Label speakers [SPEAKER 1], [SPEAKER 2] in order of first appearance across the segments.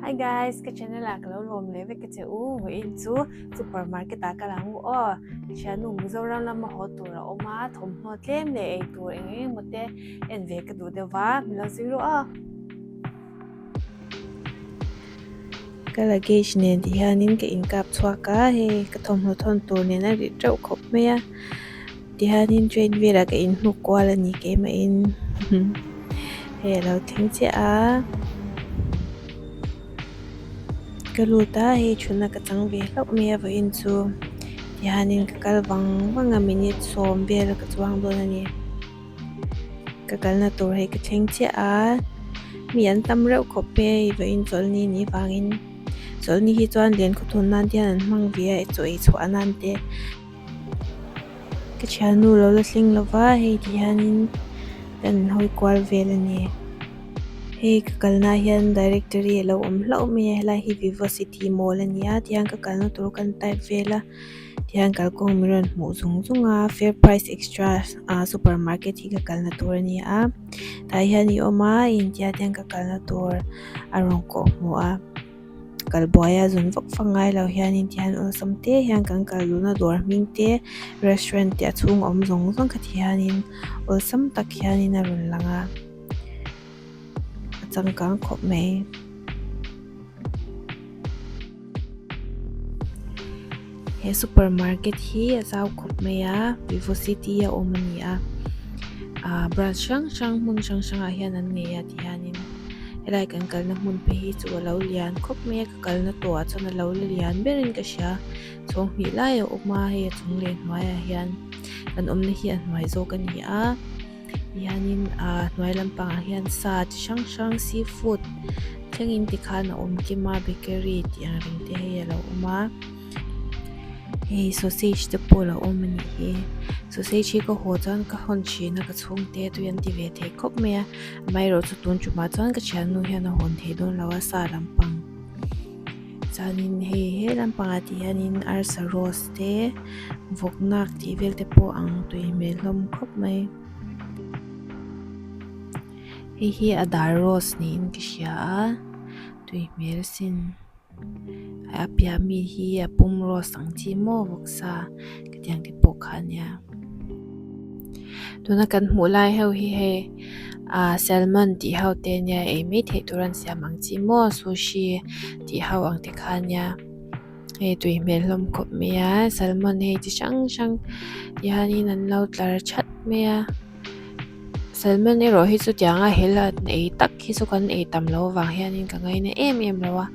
[SPEAKER 1] Hi guys, ka channel ah ka lo lawm leh vek ka che u, vawiin chu supermarket ah ka lang u aw, hriatnu Mizoram lama haw tur a awm a, thawmhnaw tlem leh eitur eng eng emaw te, en ve ka duh deuh va mi lo zui rawh a. Ka luggage nen tih hianin ka inkap chhuak a, hei ka thawmhnaw thawn tur nen a rih teuh khawp mai a, tihianin train velah ka in hnuk kual a ni keimahin hei a lo thleng chiah a, ka lut a hei thutna ka chang ve hlauh mai a vawiin chu tihianin ka kal vang vang a minute sawm vel ka chuang dawn a ni. Ka kalna tur hi ka thleng chiah a, mi an tam reuh khawp hi i vawiin Chawlni ni vangin. Chawlni hi chuan lian khaw tun nan te hian an hmang ve a, chaw ei chhuah nan te. Ka thiannu lo la thleng lo va, hei ti hianin ka inhawi kual vel a ni. Hei ka kalna hian directory a lo awm hlauh mai a, helai hi Vivocity mall a ni a, tihian ka kalna tur kan type vel a. Tihian kalkawng min rawn hmuh zung zung a fair price extra ah supermarket hi ka kalna tur a ni a tah hian i awm a india te an ka kalna tur a rawn kawh hmu a kal buai a zun vak vak ngai lo hian in tihian awlsam te hian kan kal luhna dawr hming te restaurant te a chhung a awm zawng zawng kha ti hian in awlsam tak hian in a rawn lang a a changkang khawp mai. he super market hi a zau khawp mai a vivocity a awm a ni a ah branch hrang hrang hmun hrang hrang ah hian an nei a ti hian in helai kan kal na hmun te hi chu a lo lian khawp mai a ka kal na tawh ah chuan a lo la lian ber in ka hria chhawng hnih lai a awm a hei a chung leh hnuai ah hian kan awm na hi a hnuai zawk a ni a. hianin ahh hnuai lampang ah hian sa chi hrang hrang sea food thlengin ti khan a awm kim a bakery tih ang reng te hei a lo awm a hei sausage te pawh a lo awm a nih hi sausage hi ka haw chuan ka hawn chhin a ka chhung te atui an ti ve thei khawp mai a amaherawhchu tunchumah chuan ka thiannu hian a hawn thei dawn lo a sa lampang. Chuanin hei he lampangah tih hianin arsa rose te vawknak tih vel te pawh ang tui hmel hlawm khawp mai. Hei hi a dar rose niin ka hria a, tui hmel sin. A piah mi hi a pum rose ang chi maw vawk sa. tiang te pawh kha nia tuna kan hmuh lai ho hi hei a salmon tih ho te nia ei mai theih tur an siam ang chi maw sushi tih ho ang te kha nia hei tui hmel hlawm khawp mai a salmon hei chi hrang hrang ti hianin an lo tlar that mai a. Salman erawh hi chutianga hela ei tak hi chu kan ei tam lo vang hianin ka ngaina em em lo a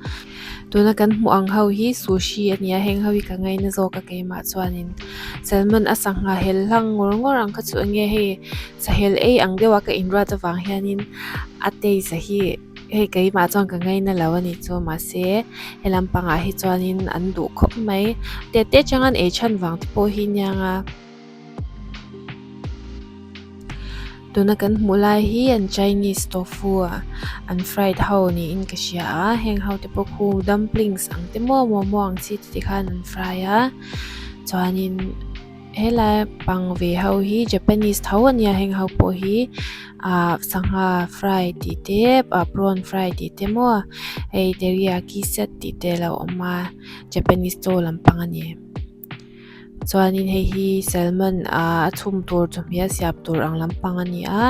[SPEAKER 1] tuna kan hmuh ang ho hi sushi ania heng ho hi ka ngaina zawk a keimah chuanin Salman a sangha hel hlang ngawr ngawr ang kha chu enge hei sahel ei ang deuha ka inruat avang hianin a taste hi hei keimah chuan ka ngaina lo ani chu mahse helampangah hi chuanin an duh khawp mai te te changan ei chhan vang te pawh hi nianga tuna kan hmuh lai hi an chinese tofu a an fried ho niin ka hria a heng ho te pawh khu dumplings ang te mawi mawi maw ang chi te khan an fry a chuanin helai pang ve ho hi japanese tho a nia heng ho pawh hi ah sangha fry tih te ah prawn fry tih te maw hei teriyaki set tih te a lo awm a japanese chaw lampang a ni. chuanin hei hi salmon ah a chhum tur chawhmeh a siam tur ang lampang a ni a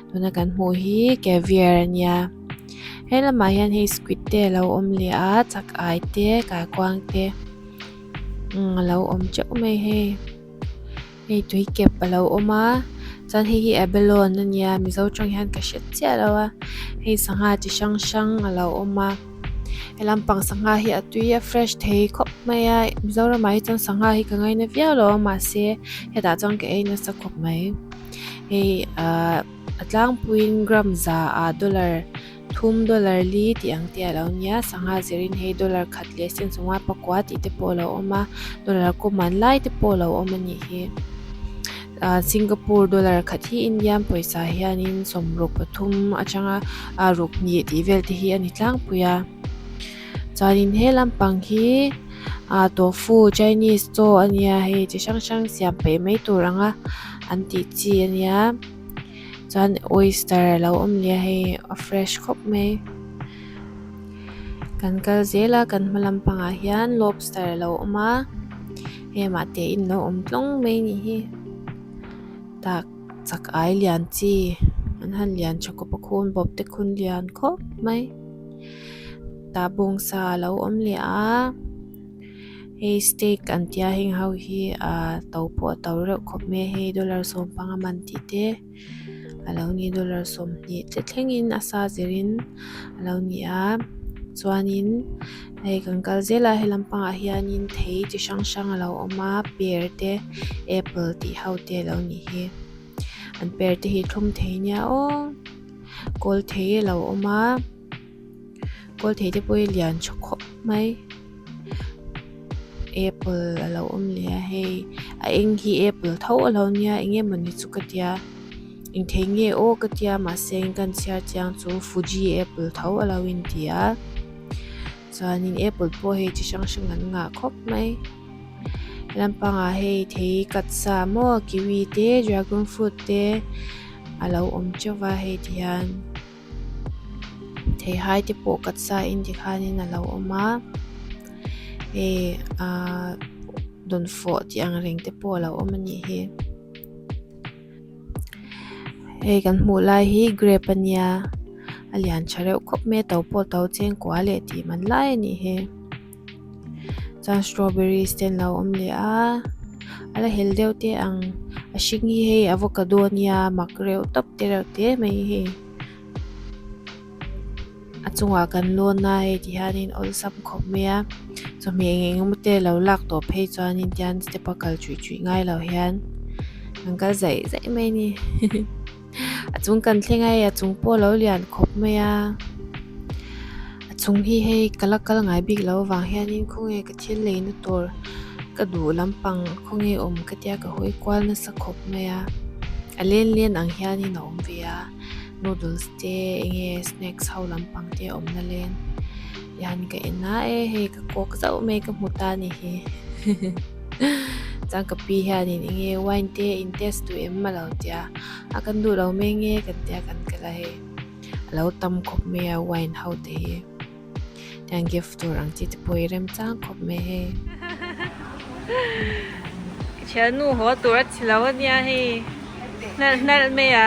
[SPEAKER 1] tuna kan hmuh hi caviar a nia he lamah hian hei squid te a lo awm leh a chak ai te kaikuang te umm a lo awm teuh mai hei. Hei tui kep a lo awm a chuan hei hi abalone a nia mizo tang hian ka hriat chiah lo a hei sangha chi hrang hrang a lo awm a he lampang sangha hi a tui a fresh thei khawp mai a mizoram ah hi chuan sangha hi ka ngai na viau lo a mahse hetah chuan ka ei nasa khawp mai hei ah a tlangpuiin gram za ah dollar -- Thum dollar li tih ang te a lo nia. Sangha zirin hei dollar khat leh cent sawmngai pakua tih te pawh a lo awm a. Dollar kawman lai te pawh a lo awm a nih hi. Ahh Singapore dollar khat hi Indian pawisa hianin sawmruk pathum atanga a ruk hnih tih vel te hi a ni tlangpui a. Chuanin he lampang hi ahh tofu Chinese chaw a nia hei chi hrang hrang siam peih mai tur ang a an tih chi a nia. chuan oyster a lo awm leh a hei a fresh khawp mai kan kal zel a kan hma lam pangah hian lobster a lo awm a hei mah te in lo awm tlawng mai ni hi tak chak ai lian chi an han lian tha khawp a khawn bawp te khun lian khawp mai tabawngsa a lo awm leh a. Hei stake an tia heng ho hi ah to pawh a to reuh khawp mai hei dollar sawm panga man tih te alo ni dollar sawm hnih tle thlengin a sa zir in alo ni a chuanin hei kan kal zel a hei lampang ah hianin thei chi hrang hrang alo awm a pear te apple tih ho te alo ni hi an pear te hi thlum thei nia aww kawl thei alo awm a. Kawl thei te pawh hi lian tha khawp mai apple a lo awm leh a hei a eng hi apple tho a lo nia eng nge mawni chu ka tia in thei nge aw ka tia mahse in ka chhiar chiang chu fuji apple tho a lo in ti a chuan in apple pawh hei chi hrang hrang an ngah khawp mai lam pangah hei thei cut sa maw kiwi te dragon fruit te a lo awm teuh va hei ti hian. Theihai te pawh ka chah a inti khan in alo awm a hei aaa dawn fawh tih ang reng te pawh alo awm a nih hi hei kan hmuh lai hi grape a nia a lian tha reuh khawp mai a to pawh a to cheng kuah a leh tih man lai a nih hi. Chuan strawberries te an lo awm leh a, a la hel deuh te ang. A hring hi hei avocado a nia, mak reuh tawp te reuh te mai a hei. A chungah kan lawn a hei ti hianin awlsam khawp mai a, chawhmeh eng eng emaw te lo lak tawh phei chuanin tian step a kal ṭuih ṭuih ngai lo hian an kal zaih zaih mai a ni. a chung kan thleng a a chung pawh a lo lian khawp mai a a chung hi hei ka la kal ngai bik loh avang hianin khaw nge ka thil lei na tur ka duh lampang khaw nge awm ka tia ka hawi kual nasa khawp mai a a len len ang hianin a awm ve a noodles te enge snacks ho lampang te a awm nalen. Hian ka en a e hei ka kawk zauh mai ka hmu ta ni hi chang ka pi hian in enge wine te in test tu em ma lo tia a kan duh lo mai nge kan tia kan kal a hei lo tam khawp mai a wine ho te hi hian gift tur ang chi te pawh hi rem chang khawp mai hei ka chhel nu ho tur a chilo a nia hei hnal hnal mai a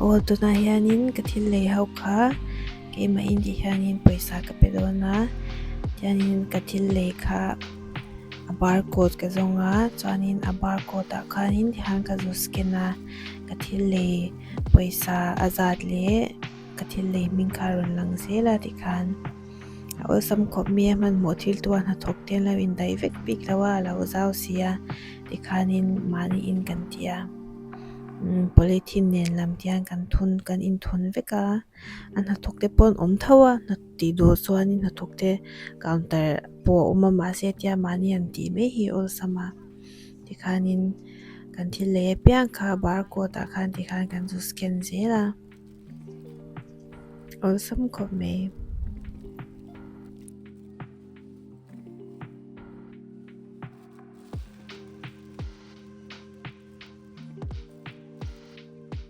[SPEAKER 1] Aw tunah hianin ka thil lei ho kha keimah in tih hianin pawisa ka pe dawn a tihian in ka thil lei kha. a bar code ka zawng a chuanin a bar code ah khanin tihan ka zu scan a ka thil lei pawisa a zat leh ka thil lei hming kha a rawn lang zel a tikhan a awlsam khawp mai a hmanhmawh thil tu a hnathawk te an lo indai vek bik lo a a lo zau si a tikhanin mahniin kan ti a polythene nen lam tian kan thun kan inthun vek a. A hnathawk te pawh an awm tho a hna tih duh chuanin hnathawk te counter pawh a awm a mahse tia mahni an tih mai hi awlsam a tikhanin kan thil lei apiang kha bar code ah khan tikhan kan zu scan zel a awlsam khawp mai.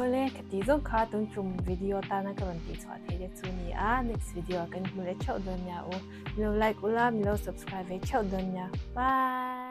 [SPEAKER 1] Awle ka ti zawk kha tun chung video atana ka rawn tih chhuah theih te chu ni a, next video ah kan hmu leh theuh dawn nia u, milo like ula milo subscribe ve theuh dawn nia bye.